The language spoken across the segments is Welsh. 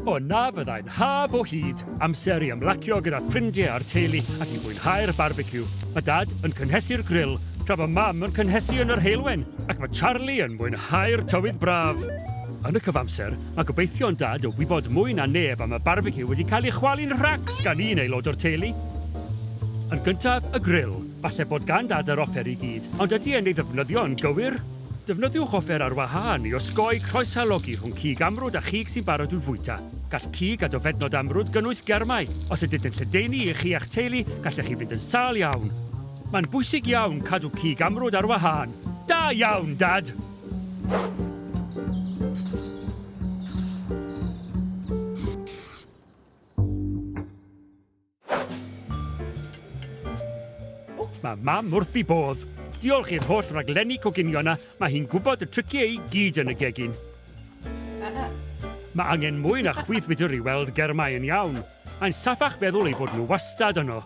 O na fyddai'n haf o hyd, amser i ymlacio gyda ffrindiau a'r teulu ac i fwynhau'r barbeciw. Mae Dad yn cynhesu'r gril, tra bod Mam yn cynhesu yn yr heulwen, ac mae Charlie yn mwynhau'r tywydd braf. Yn y cyfamser, mae gobeithion Dad o wybod mwy na neb am y barbeciw wedi cael ei chwalu'n rhacs gan un aelod o'r teulu. Yn gyntaf, y gril. Falle bod gan Dad yr offer i gyd, ond ydy e'n ei ddefnyddio'n gywir? Defnyddiwch offer ar wahân i osgoi croeshalogi rhwng cig amrwd a chig sy'n barod i'w fwyta. Gall cig a dofednod amrwd gynnwys germau. Os ydynt yn lledaenu i chi a'ch teulu, gallech chi fynd yn sâl iawn. Mae'n bwysig iawn cadw cig amrwd ar wahân. Da iawn, Dad! Mae mam wrth i bodd. Diolch i'r holl raglenni coginio yna, mae hi'n gwybod y triciau i gyd yn y gegin. Mae angen mwy na chwith midr i weld germau yn iawn. Mae'n saffach feddwl eu bod nhw wastad yno.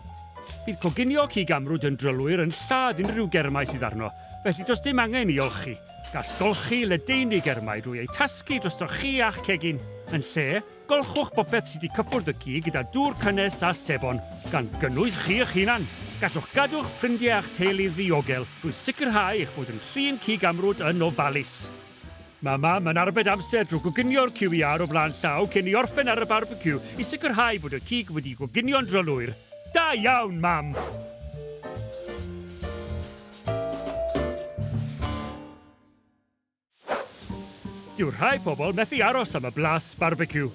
Bydd coginio cig amrwd yn drylwyr yn lladd unrhyw germau sydd arno, felly does dim angen i olchi. Gall golchi ledaenu germau drwy eu tasgu drostoch chi a'ch cegin, yn lle Golchwch bopeth sydd wedi cyffwrdd y cig gyda dŵr cynnes a sebon, gan gynnwys chi eich hunan. Gallwch gadw'ch ffrindiau a'ch teulu ddiogel drwy sicrhau eich bod yn trin cig amrwd yn ofalus. Mae Mam yn arbed amser drwy goginio'r ciw iâr o flaen llaw cyn i orffen ar y barbeciw i sicrhau bod y cig wedi'i goginio'n drylwyr. Da iawn, Mam! Dyw rhai pobl methu aros am y blas barbeciw.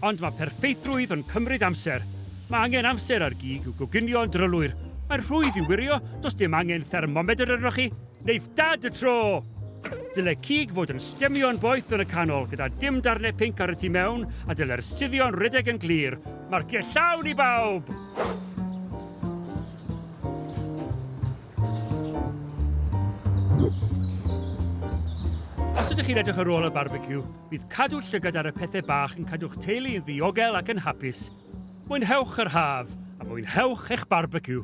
Ond mae perffeithrwydd yn cymryd amser. Mae angen amser ar gig i'w goginio yn drylwyr. Mae'n rhwydd i'w wirio, does dim angen thermomedr arnoch chi. Neith Dad y tro! Dyle cig fod yn stemio'n boeth yn y canol gyda dim darnau pinc ar y tu mewn a dylai'r suddio'n rhedeg yn glir. Marciau llawn i bawb! Os ydych chi'n edrych ar ôl y barbeciw, bydd cadw llygad ar y pethau bach yn cadw'ch teulu yn ddiogel ac yn hapus. Mwynhewch yr haf, a mwynhewch eich barbeciw!